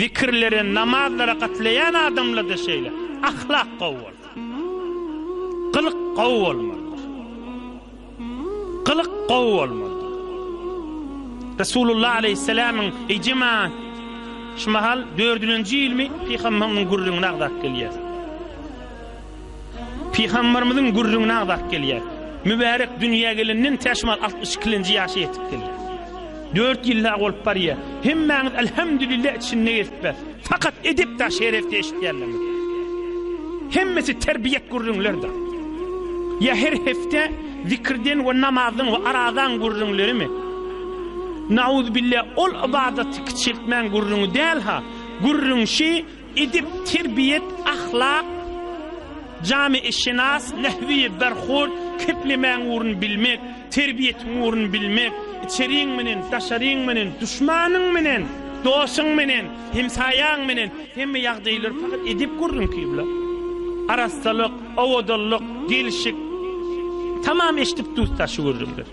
Zikirlere, namazlara gatlaýan adamlarda şeýle ahlak gowy bolmaly. Gylyk gowy bolmalydyr. Gylyk gowy bolmalydyr. Resulullah aleyhisselamyň ejema şu mahal dördünji ýylmy pygamhamyň gürrüňini agzap gelýär. Pygamberimiziň gürrüňini agzap gelýär. Mübärek dünýä gelenden täşmal altmyş ikilenji ýaşa ýetip gelýär. Dört ýyl dagy bolup barýar. Hemmäňiz Elhemdülillah içinde gezip bes. Fakat edep da şerefde eşitýänlerimiz. Hemmesi terbiýet gürrüňlerdir. Ýa her hepde zikirden we namazdan we arazaň gürrüňlerimi? Nauzbillah ol ybadatty kiçeltmäň gürrüňi däl ha. Gürrüň şi Edep, terbiýet, ahlak, jamiişynas, nähwi, berhud, keplemäň ugruny bilmek, terbiýetiň ugruny bilmek, içeriň menen, daşaryň menen, duşmanyň menen, dosuň menen, hemsaýaň menen hemme ýagdaýlary pakat edep gürrüňki bilen. Arassalyk, owadanlyk, gelşik, tamam eşdip-duýsa şu gürrüňler.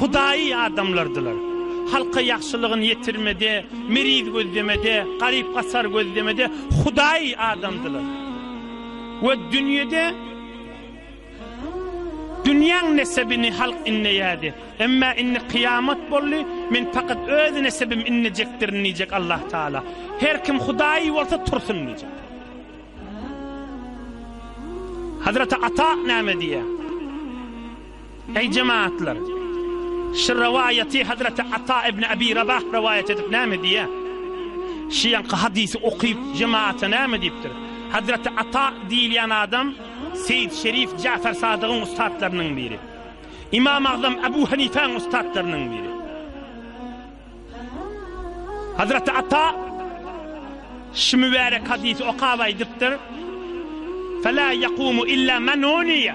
Hudaýy adamlardylar. Halka ýagşylygyny ýetirmede, meriz gözlemede, garyp-gasar gözlemede hudaýy adamdylar. We dünýede dünýäň nesebini halk inleýärdi. Emma indi kyýamat boldy, men pakat öz nesebimi inlejekdirin diýjek Allah Tagala. Her kim hudaýy bolsa tursun diýjek. Hazreti Ata näme diýýär? Eý jemagatlar! Şu rowaýaty Hazreti Ata ibn Abi Rabah rowaýat edip näme diýýär? Şu ýanky hadysy okyp, jemagata näme diýipdir? Hazreti Ata diýilýän adam Seýit Şerif Jafar Sadygyň ussatlarynyň biri. Imam Agzam Abu Hanifäň ussatlarynyň biri. Hazreti Ata şu mübärek hadysy okap aýdypdyr, Fe la yakumu illa men uniýe.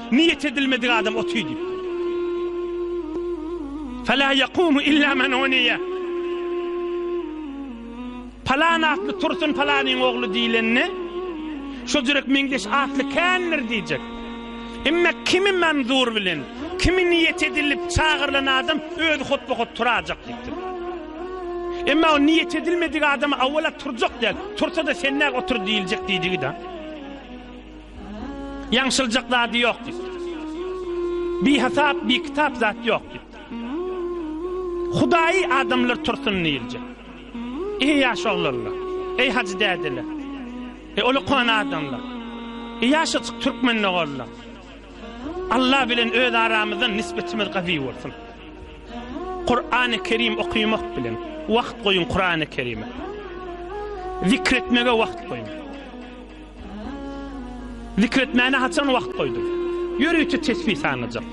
Niýet edilmedik adam oty diýip. Fala yakumu illa men oniya. Palan atly tursun palanyň ogly diýlenini şu jürek meňzeş atly kändir diýjek. Emme kimi manzur bilen, kimi niýet edilip çagyrylan adam öz hutba hut turajak diýipdir. Emme o niýet edilmedik adam awala turjak diýip, tursa-da senne otur diýiljek diýdigi-de. Ýaňşyljak zady ýok diýip. Bihasap, bikitap zat ýok diýip. Hudaýy adamlar tursun diýilje. Eý ýaş oglanlar, eý hajy dädeler. E oly kon adamlar. E ýaşatyk türkmen oglanlar. Allah bilen öz aramyzdan nisbetimiz gawy bolsun. Kur'an-ı Kerim okumak bilen wagt goýun Kur'an-ı Kerime. Zikretmege wagt goýun. Zikr etmäne haçan wagt goýduň? Ýörite tesbih sanajak.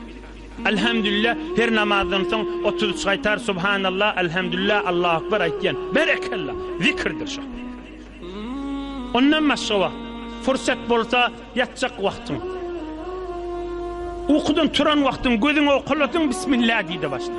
Elhamdülillah her namazdan soň otuz üç gaýtar Subhanallah, Elhamdülillah, Allahu Ekber aýtýan. Berekella! Zikirdir şo. Ondan başga wagt, pursat bolsa ýatjak wagtyň. Ukudan turan wagtyň gözüňi okaladyň Bismillah diýdi başda.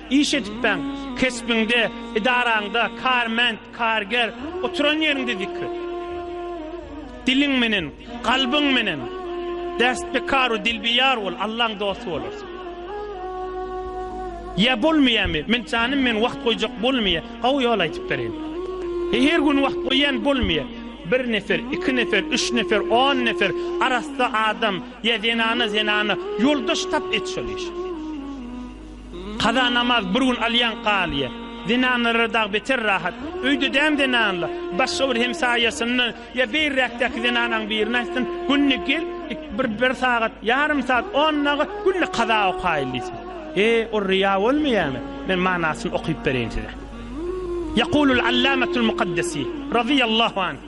Iş edipbaň, kesbiňde, edaraňda, kärment, karger, oturan ýeriňde zikr et. Diliň menen, kalbyň menen, destbekaru dilbiyar bol, Allaň dosty bolarsyň. Ýa bolmaýamy? Men janym men wagt goýjak bolmaýa. Hawa ýol aýtyp bereýin. E her gün wagt goýýan bolmaýa. Bir nefer, iki nefer, üç nefer, on nefer arassa adam ýa zenana zenana ýoldaş tap et şol iş. Kaza namaz bir gün alýaň kalyýa. Zenanlara dagy beter rahat. Öýde däm zenanla, başga bir hemsaýasynda ýa beýräkdäki zenanaň birine aýtsyn, günde gel, bir bir sagat, ýarym sagat, on daga günde kaza okaýyl diýsin. E, ol ryýa bolmaýamy? Men manasyny okyp bereýin size. Ýakulul Allamatul Mukaddesi, razyýallahu anh,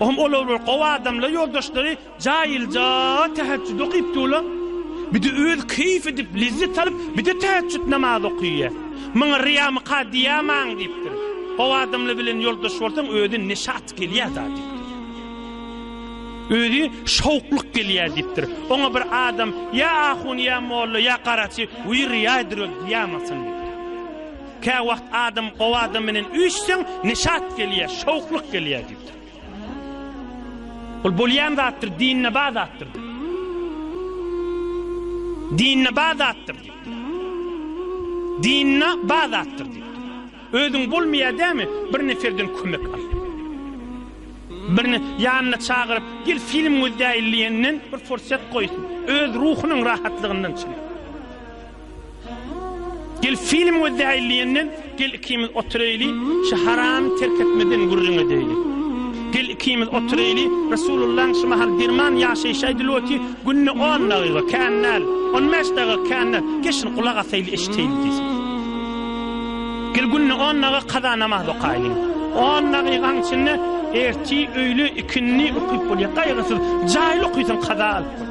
Ohm olar bir gowy adamlar ýoldaşlary jaýylja täheçjüt okyp durlar. Bide öz keýf edip lezzet alyp bide täheçjüt namaz okyýar. Maňa riýamy ka diýamaň diýipdir. Gowy adamlar bilen ýoldaş bolsaň özi neşat gelýär da diýipdir. Özi şowklyk gelýär diýipdir. Oňa bir adam ýa ahun ýa molla ýa garaçy we riýaýdyr öl diýamasyn. Käwagt adam gowy adam bilen üýşseň, neşat gelýär, şowhlyk gelýär diýipdir. Ol bolýan zatdyr, dinine bar zatdyr. Dinine bar zatdyr. Dinine bar zatdyr. Özüň bolmaýar dämi? Bir neferden kömek al. Birini ýanyna çagyryp, gel film gözläýin diýenden bir forsat goýsun. Öz ruhunyň rahatlygyndan çyn. Gel film gözleýli diýenden gel ikimiz oturyly şu haramy terk etmeden gürrüň edeýli. Gel ikimiz oturyly Resulullaň şu mahal derman ýaşaýşy aýdylyoty günde on dagyga kän däl on bäş dagyga kän däl gel şuny gulak asaýly eşiteýli diýsin. Gel günde on dagyga kaza namaz okaýly. On dagygaň içinde ertir öýle ikindi okyp bolýar gaýgysyz jaýly okysaň kaza alyp bolýar.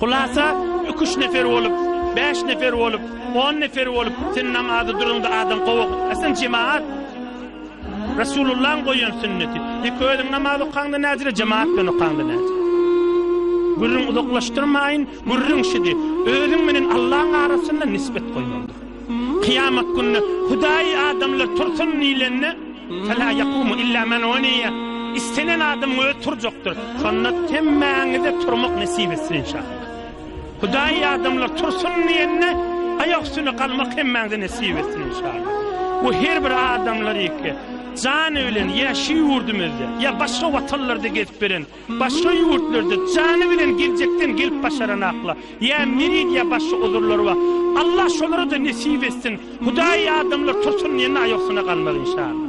Hulasa, iki-üç nefer bolup, bäş nefer bolup, on nefer bolup, sen namazy durumda adam gowy okyp, sen jemaat, Resulullahyň goýan sünneti. Ýek özüň namaz okaňda näzire jemaat bilen okaňda näzire. Gürrüň uzaklaşdyrmaýyn, gürrüň şidi. Özüň menen Allahyň arasynda nisbet goýmalydyr. Kyýamat gününe Hudaýy adamlar tursun diýlende, Fela yakumu illa men we niýe, Istenen adamyň özi turjakdyr. Şonda hemmäňize turmak nesip etsin inşallah. Hudaýy adamlar tursun diýende, aýak üstünde galmak hemmäňize nesip etsin inşallah. Bu her bir adamlar ýeke jany bilen ýa şu ýurdumyzda, ýa başga watanlarda gezip beren Başga ýurtlarda jany bilen geljekden gelip başaran akla ýa mirid ýa başga uzurlary bar. Allah şolara-da nesip etsin. Hudaýy adamlar tursun diýende aýoksyna galmaz inşallah.